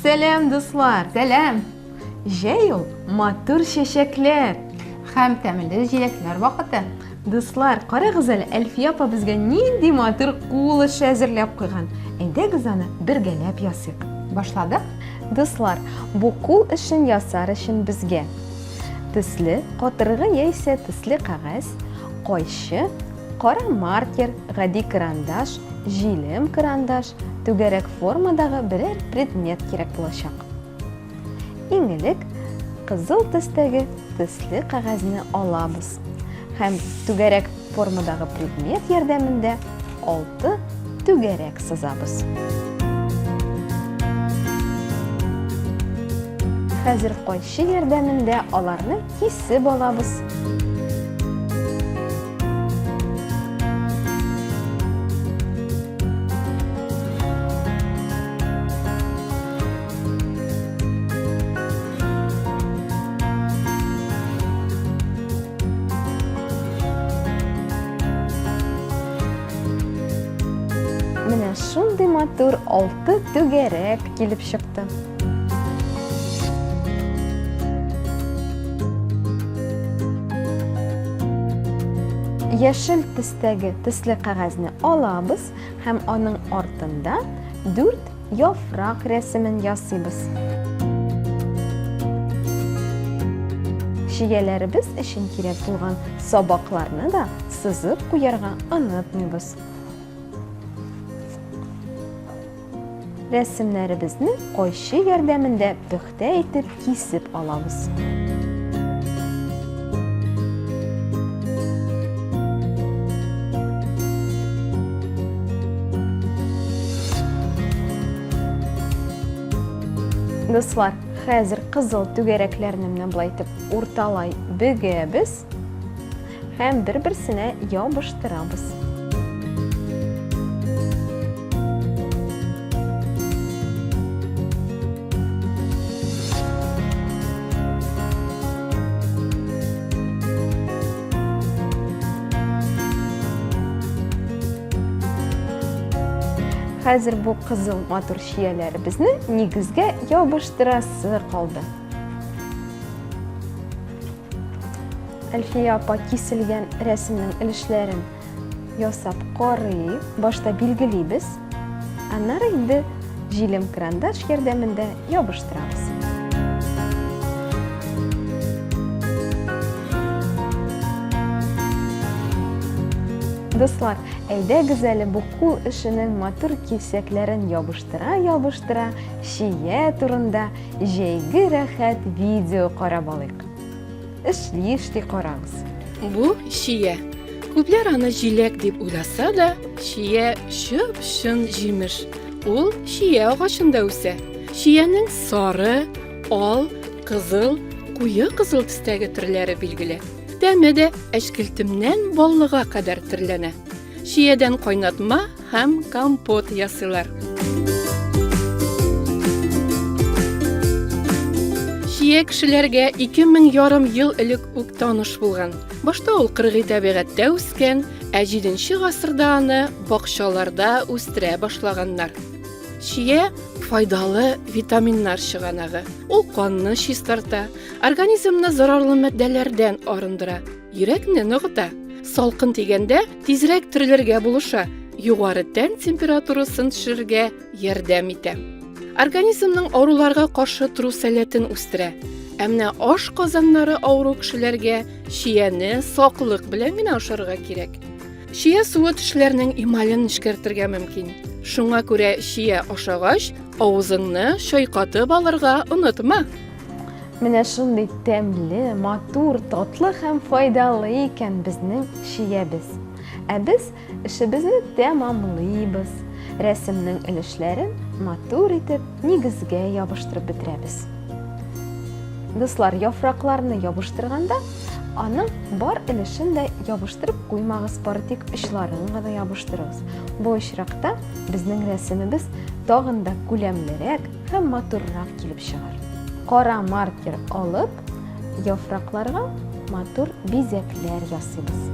Сәлам, дуслар! Сәлам! Җәй ул матур чәчәкләр һәм тәмле җиләкләр вакыты. Дуслар, карагыз әле, Әлфия апа безгә нинди матур кул эше әзерләп куйган. Әйдәгез аны бергәләп ясыйк. Башладык? Дуслар, бу кул эшен ясар өчен безгә төсле катыргы яисә төсле кәгазь, кайчы, кара маркер, гади карандаш, җилем карандаш, түгәрәк формадагы берәр предмет кирәк булачак. Иң элек кызыл төстәге төсле кәгазьне алабыз һәм түгәрәк Формадагы предмет ярдәмендә алты түгәрәк сызабыз. Хәзер кайчы ярдәмендә аларны кисеп алабыз. Менә шундый матур алты түгәрәк килеп чыкты. Яшел төстәге төсле кәгазьне алабыз һәм аның артында дүрт Яфрак рәсемен ясыйбыз. Чияләребез өчен кирәк булган сабакларны да сызып куярга онытмыйбыз. Рәсемнәребезне кайчы ярдәмендә пөхтә Тә итеп кисеп алабыз. Дуслар, хәзер кызыл түгәрәкләрне менә болай итеп урталай бөгәбез. Һәм бер-берсенә ябыштырабыз. Хәзер бу кызыл матур чияләребезне нигезгә ябыштырасы калды. Әлфия апа киселгән рәсемнең өлешләрен ясап карый. Башта билгелибез, аннары инде җилем крандаш ярдәмендә ябыштырабыз. Дуслар, әйдәгез әле бу кул эшенең матур кисәкләрен ябыштыра-ябыштыра, чия турында, Җәйге рәхәт видео карап алыйк. Эшли эшли карагыз. Бу чия. Күпләр аны җиләк дип уйласа да, чия чып-чын җимеш. Ул чия агачында үсә. Чиянең сары, ал, кызыл, куе кызыл төстәге төрләре билгеле. Тәме дә әчкелтемнән баллыга кадәр төрләнә. Чиядән кайнатма һәм компот ясыйлар. Чия кешеләргә ике мең ярым ел элек үк таныш булган. Башта ул кыргый табигатьтә үскән, ә җиденче гасырда аны бакчаларда үстерә башлаганнар. Чия файдалы витаминнар чыганагы. Ул канны чистарта, организмны зарарлы матдәләрдән арындыра. Йөрәкне ныгыта. Салкын тигәндә тизрәк терелергә булыша, югары тән температурасын төшерергә ярдәм итә. Организмның авыруларга каршы тору сәләтен үстерә. Ә менә аш казаннары авыру кешеләргә чияне саклык белән генә ашарга кирәк. Чия суы тешләрнең эмален нечкәртергә мөмкин. Шуңа күрә чия ашагач, авызыңны чайкатып алырга онытма. Менә шундый тәмле, матур, татлы һәм файдалы икән безнең чиябез. Ә без эшебезне тәмамлыйбыз, рәсемнең өлешләрен матур итеп нигезгә ябыштырып бетерәбез. Дуслар, яфракларны ябыштырганда, аның бар өлешен дә ябыштырып куймагыз, бары тик очларын гына ябыштырыгыз. Бу очракта безнең рәсемебез тагын да күләмлерәк, һәм матуррак килеп чыгар. Кара маркер алып, яфракларга матур бизәкләр ясыйбыз.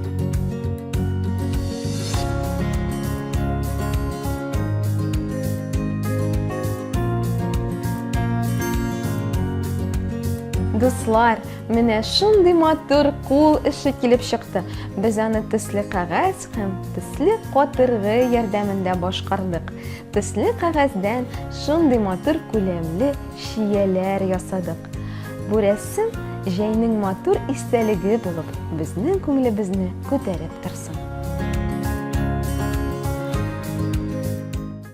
Дуслар, менә шундый матур кул эше килеп чыкты. Без аны төсле кәгазь һәм төсле катыргы ярдәмендә башкардык. Төсле кәгазьдән шундый матур күләмле шияләр ясадык. Бу рәсем җәйнең матур истәлеге булып, безнең күңелебезне күтәреп торсын.